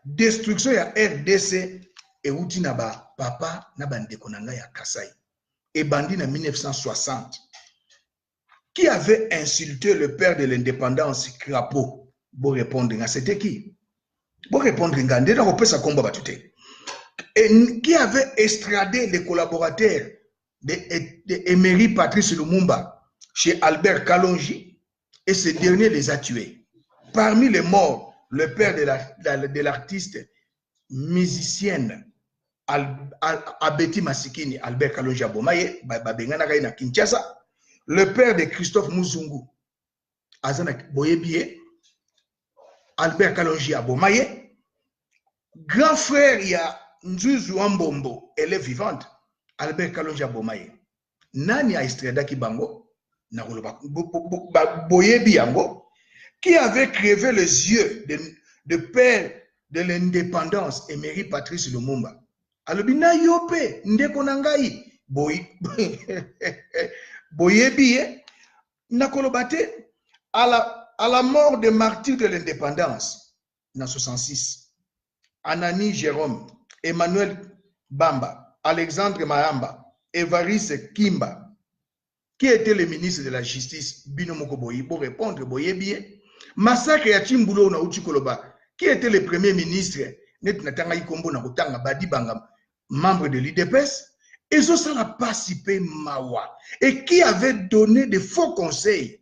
Destruction ya rdc ewuti na ba papa na ba ndeko na nga ya Kasaï. Ebandi na 1960. Qui avait insulté le père de l'indépendance Crapaud? Bo répondre nga, c'était qui? Bo répondre nga, nde na kopesa kombo batu te. Et qui avait extradé les collaborateurs de, de Emery Patrice Lumumba chez Albert Kalonji? et ce dernier les a tués. Parmi les morts, le père de l'artiste musicienne Abeti Masikini, Albert Kalonja Bomaye, Babenganaka na Kinshasa, le père de Christophe Muzungu, Azana Boyebie, Albert Kalonji Abomaye, grand frère ya Nzuzu Ambombo, elle est vivante, Albert Kalonji Abomaye. nani a estradaki bango na koloba boyebi yango qui avait crevé les yeux de, de père de l'indépendance emery patrice lumumba alobi na yo mpe ndeko na ngai boyebi ye na koloba te à la, à la mort de martyr de l'indépendance na 66 Anani Jerome, Emmanuel Bamba, Alexandre Mayamba, Evariste Kimba, qui était le ministre de la justice bino moko boyi bo répondre boyebi ye massacre ya Chimbulu na uti koloba qui était le premier ministre neti natangaki kombo na kotanga Badi Banga membre de l'UDPS ezosala pasi pe mawa et qui avait donné de faux conseils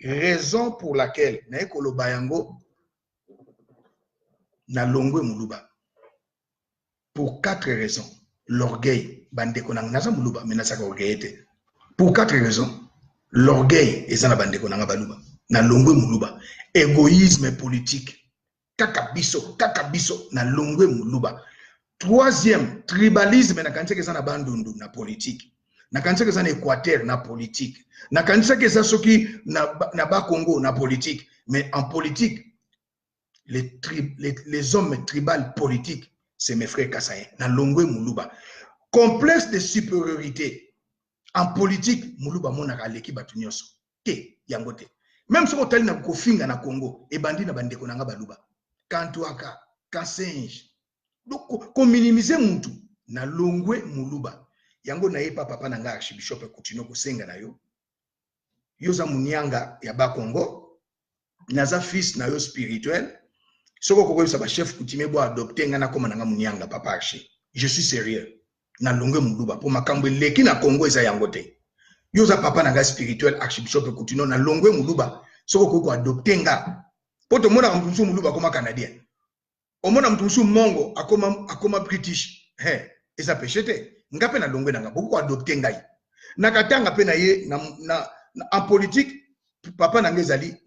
raison pour laquelle naye koloba yango na longwe muluba pour quatre raisons l'orgueil bandeko nanga naza muluba mais nazaka orgueil te pour quatre raisons l'orgueil eza na bandeko nanga baluba na longwe muluba égoïsme politique kaka biso kaka biso na longwe muluba troisième tribalisme nakanisaki eza na bandundu na politike nakanisaki eza na équateur na politike nakanisaki eza soki na, na bakongo na politike mais en politique les, tri, les, les hommes tribal politiques c'est mes frères kasayen na longwe muluba complexe de supériorité en politique muluba amonaka aleki bato nyonso te yango te meme soki otali na kofinga na congo ebandi na bandeko na nga baluba kantuaka kasenje kominimise mutu na longwe muluba yango nayepa papa na nga archibishop kutino kosenga na yo yo oza munianga ya bakongo naza fils na yo spirituel soki okokoyebisa bachef coutume bo adopte ngai nakoma na ngai monianga papa arche je suis sérieux na longue moluba mpo makambo eleki na congo eza yango te yo oza papa na ngai spirituel archibishop coutuno na longue moluba soki okoki koadopte nga mpo tomonaka moto mosusu moluba akoma canadien omona moto mosusu mongo akoma, akoma british he eza peshe te nga mpe na longue na ngai bokoki koadopte ngai nakatanga mpe na ye na, na, na, en politique papa na ngai ezali